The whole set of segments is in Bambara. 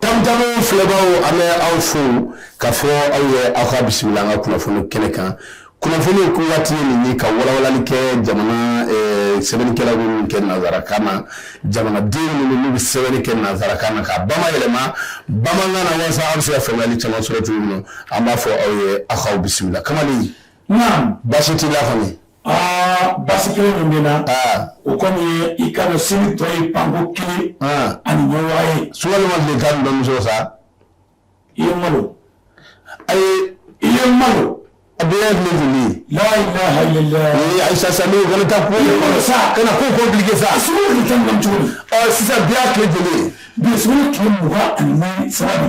Tamtam filɛbaw an bɛ aw fo k'a fɔ aw ye aw ka bisimila an ka kunnafoni kɛnɛ kan kunnafoni ko waati ye nin ye ka walawalali kɛ jamana sɛbɛnnikɛla minnu kɛ nanzarakan na jamanaden minnu bɛ sɛbɛnni kɛ nanzarakan na k'a bamayɛlɛma bamanankan na walasa an bɛ se ka faamuyali caman sɔrɔ cogo min an b'a fɔ aw ye aw k'aw bisimila Kamali baasi t'i la Aa baasi kelen min bɛ n na o kɔni ye i ka dɔn seli tɔ ye panko kelen ani ɲɔgɔnwa ye sukama de ka bamuso sa i ye malo ayi i ye malo a bɛ ye min tun ye la ayisa sa ko sa ka na ko compliqué sa sisan bi tile joli bi tile mugan ani saba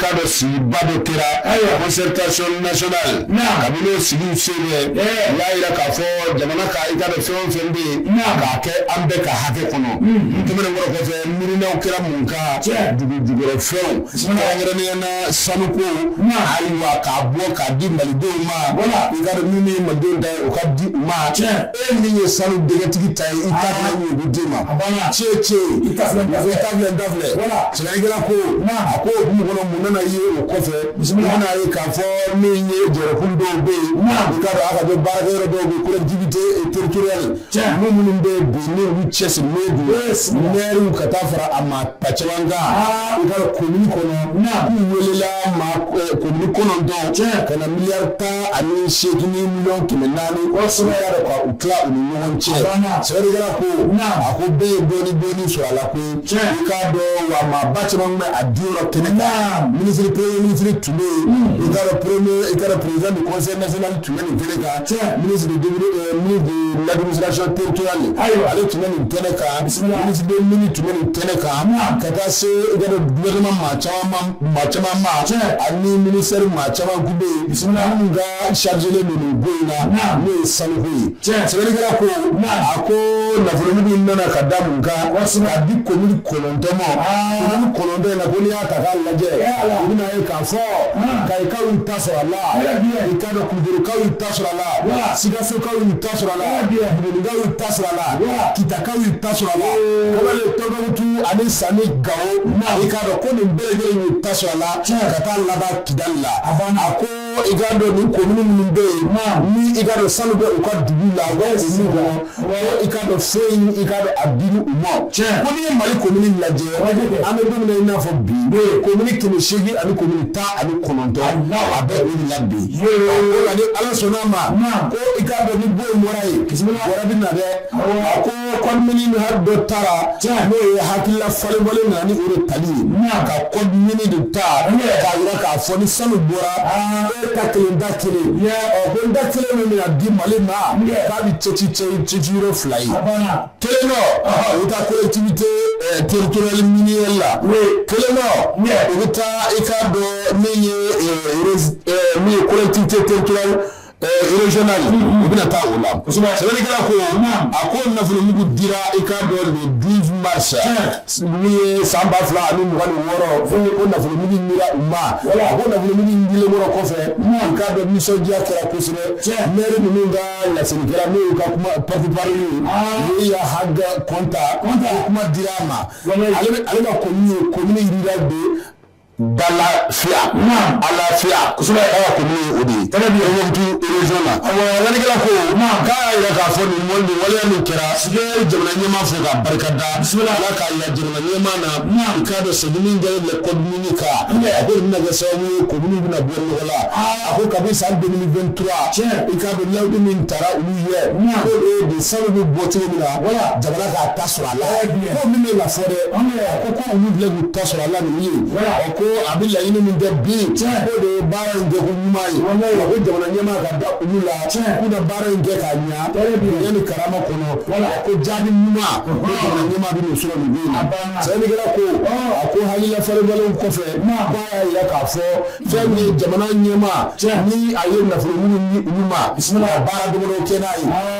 ka dɔn sigiba dɔ kɛra concertation nationale kabini o sigi sen fɛ u y'a jira k'a fɔ jamana ka i ka dɔn fɛn o fɛn bɛ yen k'a kɛ an bɛɛ ka hakɛ kɔnɔ tɛmɛnen kɔfɛ miirina kɛra mun kan dugujukɔrɔfɛnw kɛrɛnkɛrɛnnenya na sanuko ayiwa k'a bɔ k'a di malidenw ma wala i ka dɔn min ye malidenw ta ye o ka di u ma e min ye sanu dingɛtigi ta ye i ka ma cɛ cɛ da Jara ko a ko o mɔgɔ mun nana ye o kɔfɛ bisimila ye k'a fɔ min ye jɔkun dɔw bɛ yen ala bɛ ba yɔrɔ dɔw bɛ kojte teritura cɛ minnu bɛ bi cɛ siriw ka taa fara a ma ta caman kan ka ko kɔnɔ wulila ko kɔnɔntɔn cɛ ka na mi tan ani seg ɲɔgɔn tun bɛ naani u tila u ni ɲɔgɔn cɛ sɛbɛn ko a ko bɛɛ ye bɔ bɔ su a la ko k'a dɔn wa maa ba caman bɛ a di yɔrɔ kɛnɛ kan minisiri premier ministre tun bɛ yen i ka dɔn pré i ka dɔn président du conseil national tun bɛ nin kɛnɛ kan cɛ minisiri min bɛ l'administration territoriale ye ayiwa ale tun bɛ nin kɛnɛ kan ministre des mines tun bɛ nin kɛnɛ kan ka taa se i ka dɔn gouvernement maa caman ma ani minisɛri maa caman tun bɛ yen minnu chargélen don nin ko in na n'o ye sanuko ye sɛbɛnnikɛla ko a ko nafolomugu nin nana ka da mun kan k'a di komini kɔnɔntɔn ma komini kɔnɔntɔn in na ko n'i y'a ta k'a lajɛ i bɛna a ye k'a fɔ Kayikaw y'u ta sɔrɔ a la i ka dɔn Kulukɔrɔkaw y'u ta sɔrɔ a la Sikasokaw y'u ta sɔrɔ a la Bugunikaw y'u ta sɔrɔ a la Kitakaw y'u ta sɔrɔ a la Tɔnbukutu ani San Gawo i ka dɔn ko nin bɛɛ y'u ta sɔrɔ a la ka taa laban Kidali la a ko i ka dɔn nin komini minnu bɛ yen ni i ka dɔn sanu bɛ u ka dugu la u bɛ olu kɔnɔ i ka dɔn fɛn in i ka dɔn a dili u ma ko n'i ye mali komini lajɛ an bɛ don min na i n'a fɔ bi komini kɛmɛ seegin ani komini tan ani kɔnɔntɔn a bɛ o de la bi o la ni ala sɔnna ma ko i ka dɔn ni bon bɔra yen wɛrɛ bɛ na dɛ Code minier dɔ taara n'o ye hakilila falenfalen na ni o tali n'a ka code minier de ta n yɛrɛ k'a jira k'a fɔ ni sanu bɔra ka kelen da kelen ko da kelen min na di mali ma k'a bɛ cɛci cɛci ci fila ye kelen dɔ o bɛ taa collectivité territoriale minière la kelen dɔ o bɛ taa i k'a dɔn min ye min ye collectivité territoriale Zkɛla u bɛna taa u la ko a ko nafolomugu dira i ka dɔnba sa ye san ba fila ani wɔɔrɔ ko nafolomugu u ma a ko nafolougukɔrɔ kɔfɛ ka bɛ nisɔndiya kɛra kosɛbɛ cɛ ne ninnu ka laslikɛla ne ka kuma paba ye ya ha kɔntan kuma di a ma ale ko ko D'Alafia Alafia o de ye Tombouctou région na lamɛnnikɛla ko k'a jira k'a fɔ nin waleya min kɛra si jamana ɲɛmaa fɛ ka barika da ala ka la jamana ɲɛmaa na i k'a dɔn sa min kɛra le code minier ka a ko bɛna kɛ sababu ye commune bɛna bɔ nɔgɔ la a ko kabi san deux mille vingt-trois i k'a dɔn layidu min taara u ye ko de sanu bɛ bɔ cogo min na wala jamana k'a sɔrɔ a la ko min bɛ na fɔ dɛ ko ko olu filɛ k'u ta sɔrɔ a la nin ye ko a bɛ laɲini min kɛ bi ko de ye baara in kɛ ko ɲuman ye wa ko jamana ɲɛmaa ka da olu la k'u ka baara in kɛ k'a ɲa bonya ni karama kɔnɔ ko jaabi ɲuman ko jamana ɲɛmaa bɛn'o sɔrɔ nin don in na sɛbɛnnikɛla ko a ko hakilila falenfalenw kɔfɛ ko a y'a jira k'a fɔ fɛn min ye jamana ɲɛmaa ni a ye nafolo minnu di olu ma ka baara dɔgɔdalenw kɛ n'a ye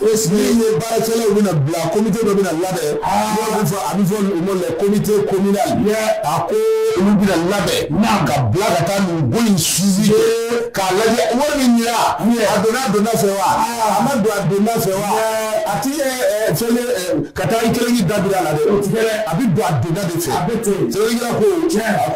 le suivi ye baarakɛlaw bɛna bila comité dɔ bɛna labɛn b'a fɔ a bɛ fɔ o ma comité communal a ko olu bɛna labɛn ka bila ka taa nin fonds in suivi k'a lajɛ wari min dira a donna a donda fɛ wa a ma don a donda fɛ wa a tɛ fɛn ka taa i kelen da bila a la dɛ a bɛ don a donda de fɛ a bɛ ten ko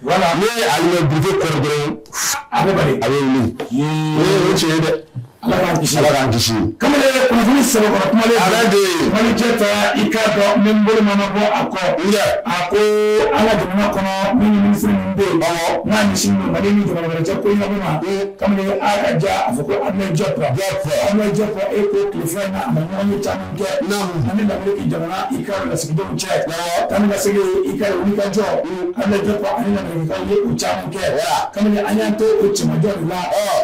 Wala ne ye a ye du kɔrɔ dɔrɔn a bɛ bali a bɛ wuli o tiɲɛ ye dɛ ala k'an kisi ala k'an kisi kamalen ye kunnafoni sɛbɛnkɔrɔ kuma ala de ye Malijet ta i k'a dɔn min bolo mana bɔ a kɔ a ko an ka jamana kɔnɔ minisiri min bɛ yen n'a ɲɛsin mali ni jamana wɛrɛ cɛ ko ɲɛnabɔ ma kamalen a ka ja a fɔ ko Abdoulaye Diop Abdoulaye Diop e ko tile fila na a ma ɲɔgɔnye caman kɛ ani Lameriki jamana i ka lasigidenw cɛ tan ka segin i ka wuli ka jɔ Abdoulaye Diop a ye u caman kɛ kamalen an y'an to o cɛmancɛ la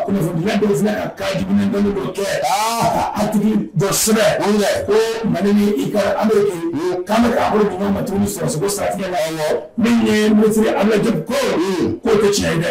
kunnafonidila dɔw filɛ ka ka jugu dɔnni dɔ kɛ aa a tigi dɔ sɛbɛn ko mali ni i ka Ameriki k'an bɛ ka bolo di ɲɔgɔn ma tuguni sɔrɔko siratigɛ la min ye minisiri Abdoulaye Diop ko k'o tɛ tiɲɛ ye dɛ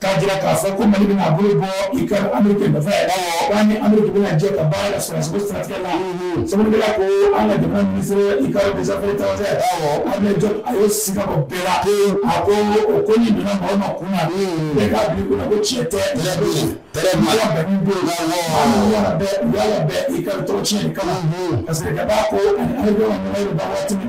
K'a jira k'a fɔ ko Mali bɛna bolo bɔ i ka Ameriki nɔfɛ ni Ameriki bɛ jɛ ka baara la sɔrɔdasiya sira la sabu ko an ka jamana minisiri i ka des affaires Abdoulaye Diop a ye siga bɔ bɛɛ la a ko o ko nin donna mɔgɔ min kun na bɛɛ k'a bila i kunna ko tiɲɛ tɛ bɛɛ bɛ yen bɛɛ bɛ yen bɛɛ bɛɛ i ka tɔgɔ tiɲɛ kama parce que ka ko ani Ameriki ba waati min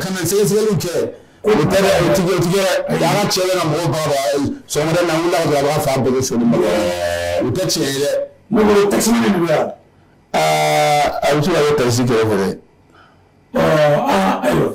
kana sɛgɛsɛgɛli kɛ o bɛ tigɛ o tigɛ dɛ cɛ na mɔgɔ ba sɔ na a b'a fa bolo so o tɛ tiɲɛ ye dɛ tasi yan aa a bɛ se ka ye tasi kɛ fɛ dɛ ɔ ayiwa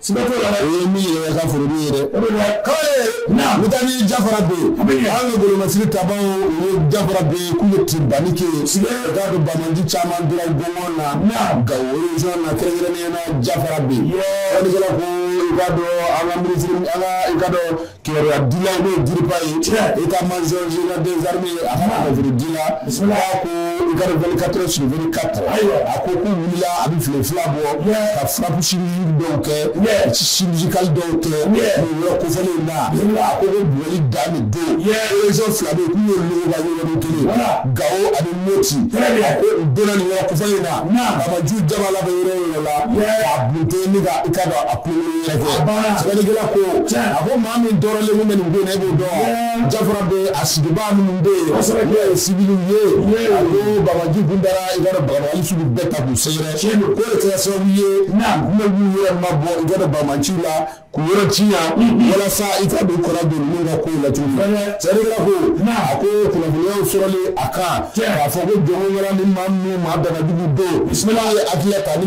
Siga t'o la dɛ, o ye min yɛrɛ ka foro min ye dɛ, o de la k'a ye, naamu, n'i taara ni Jafarabɛ yen, a bɛ ɲɛ, anw ka golomasiri tabaaw o ye Jafarabɛ yen k'u bɛ tiribanni kɛ yen, siga t'a la banbaanci caman dira gɔngɔn na, naamu, Gawo région na kɛrɛnkɛrɛnnenya la Jafarabɛ yen, i b'a dɔn an ka minisiri, an ka i k'a dɔn kibaruya dila n'o ye DIRPA ye état-major i ka des armées ye a kunnafoni dila a ko i ka vingt-quatre heures sur vingt-quatre a ko k'u wulila a bɛ tile fila bɔ ka frappe dɔw kɛ chirurgicale dɔw kɛ nin yɔrɔ kofɔlen na a ko ko bugɔli dan de don région fila bɛ k'u ye logoba yɔrɔ kelen Gawo ani Moti a ko u donna nin yɔrɔ kofɔlen na banbaanci jama la bɛ yɔrɔ yɔrɔ la k'a bunte ni ka i k'a dɔn a Sɛbɛnnikɛla ko a ko maa min tɔɔrɔlen bɛ nin don e b'o dɔn Jafarabɛ a sigibaa minnu bɛ yen n'o ye siwili ye a ko banbaanciw tun da i ka baba sugu bɛɛ k'u sɛgɛrɛ tiɲɛ don k'o kɛra sababu ye u bɛ u yɛrɛ mabɔ i ka banbaanciw la k'u yɔrɔ janya walasa i ka don kɔrɔ don min ka ko la sɛbɛnnikɛla ko a ko kunnafoniyaw sɔrɔlen a kan k'a fɔ ko jɔn wɛrɛ ni maa min maa banajugu don bisimila ye a hakili ta ni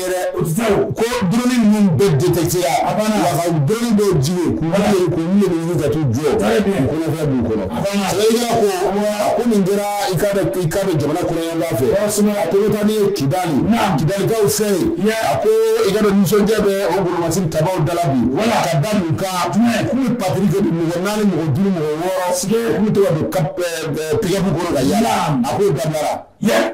ko drone ninnu bɛ détecté a bɛ jigin jɔ kɔnɔ a ko nin kɛra i bɛ jamana kɔrɔnyanfan fɛ a ko taa ni ye Kidali Kidalikaw fɛ yen a ko i ka nisɔndiya bɛ golomasiri tabaw la bi wala ka da mun kan k'u bɛ patrouille mɔgɔ naani mɔgɔ duuru mɔgɔ wɔɔrɔ k'u bɛ to ka don pick-up kɔnɔ ka yaala a ko da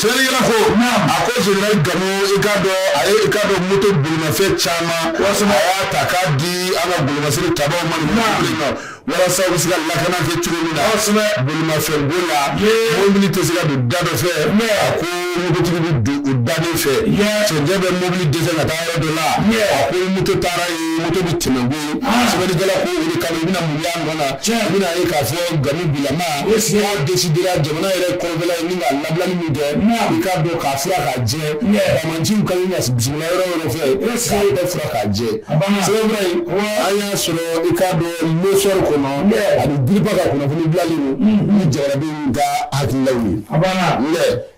sɛbɛnnikɛla ko a ko général Gamou i k'a dɔn a ye i k'a dɔn moto bolimafɛn caman walasa a y'a ta k'a di an ka golomasiri tabaw ma nin mobili ma walasa u bɛ se ka lakana kɛ cogo min na kosɛbɛ bolimafɛn ko la mobili tɛ se ka don da dɔ fɛ a ko mototigi bɛ don o da de fɛ cɛncɛn bɛ mobili dɛsɛ ka taa yɔrɔ dɔ la a ko moto taara yen moto bɛ tɛmɛ sɛbɛnnikɛla ko o de kama i bɛna mun y'a nɔ na i bɛna ye k'a fɔ gamu bilama n'a desidera jamana yɛrɛ kɔrɔbɛla ye ni ka labilali min kɛ i k'a dɔn k'a fura k'a jɛ bamanjiw ka ɲi ka bisimila yɔrɔ yɔrɔ fɛ k'a yɛrɛ fura k'a jɛ sɛbɛnfura in an y'a sɔrɔ i k'a dɔn Lɛsɔri kɔnɔ ani biriba ka kunnafoni bilalen don ni jarabi ka hakililaw ye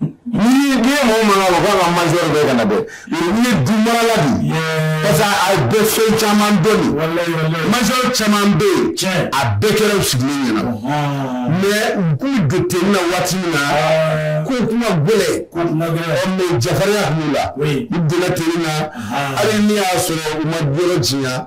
Ni ye den mɔgɔ mɔgɔ u ka ka majɔr bɛ ka na dɛ ye du marala parce que a bɛ so caman dɔn majɔr caman bɛ yen a bɛɛ kɛra sigilen ɲɛ na mɛ u k'u don tenue na waati min na ko kuma gɛlɛn jafarinya kun b'u la u donna tenue na hali n'i y'a sɔrɔ u ma g tiɲɛ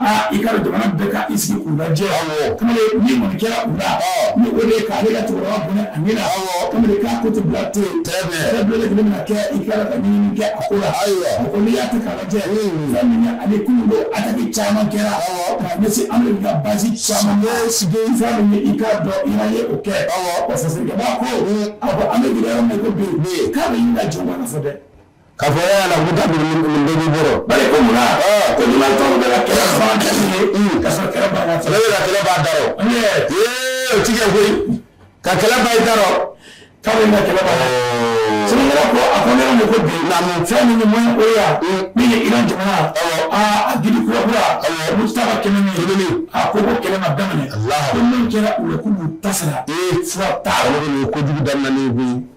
Aa i ka jamana bɛɛ ka i sigi kun lajɛ ni mun kɛra u la ni o de k'ale ka cɛkɔrɔba bonya a ɲɛna kabini k'a ko to bila to yen yɛrɛ bila lajɛlen bɛna kɛ i ka ka ɲini kɛ a ko la a ko n'i y'a to k'a lajɛ fɛn min ani kunun don ataki caman kɛra ka ɲɛsin Ameriki ka bazi caman bɛ sigi fan min i k'a dɔn Iran ye o kɛ fasojaba ko a ko an bɛ gɛlɛya yɔrɔ min ko bi k'a bɛ ɲini ka jɔn ka fɔ dɛ Ka fɔ e Ala k'u ta dogo nin nin bɛɛ b'i bolo bari ko munna ɔɔ ko n'i ma tɔw bɛɛ la kɛlɛ fa dalen ye uun k'a sɔrɔ kɛlɛ b'a la fɔlɔ e ka kɛlɛ b'a da rɔ ee ee o ti kɛ koyi ka kɛlɛ ban i da rɔ k'a bɛ na kɛlɛ ban oo sɛnɛkɛla ko a ko ne ma ko bi naamu fɛn min man o ya min ye Iran jamana awɔ aa a gidi kura kura awɔ Mojtaba Khamenei Khamenei a ko ko kɛlɛ ma daminɛ Alahu ko min kɛra u la k'u b'u ta sara ee fura t'a la olu ye kojugu daminɛ ni koyi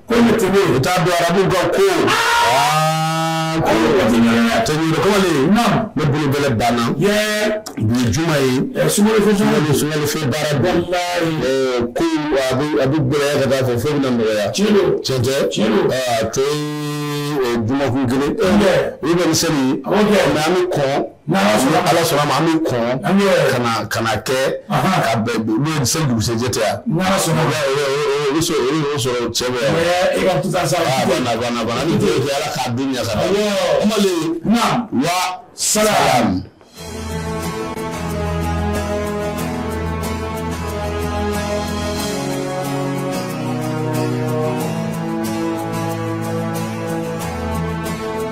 Ko ne tɛ u taa don arabu ka ko ko ne bolo bɛ banna bi juma ye sun sunlifin baara bɛ ko a bɛ gɛlɛya ka fɔ fo bɛ nɔgɔyaya cɛn to juma kun kelen u bɛ mi nka an bɛ kɔ N' sɔnna ala sɔnna ma an kɔn an kana kana kɛ ka bɛn se dugusɛjɛ tɛ yan n sɔnna sɔrɔ cɛ e ka taa sa ala ka ala wa sa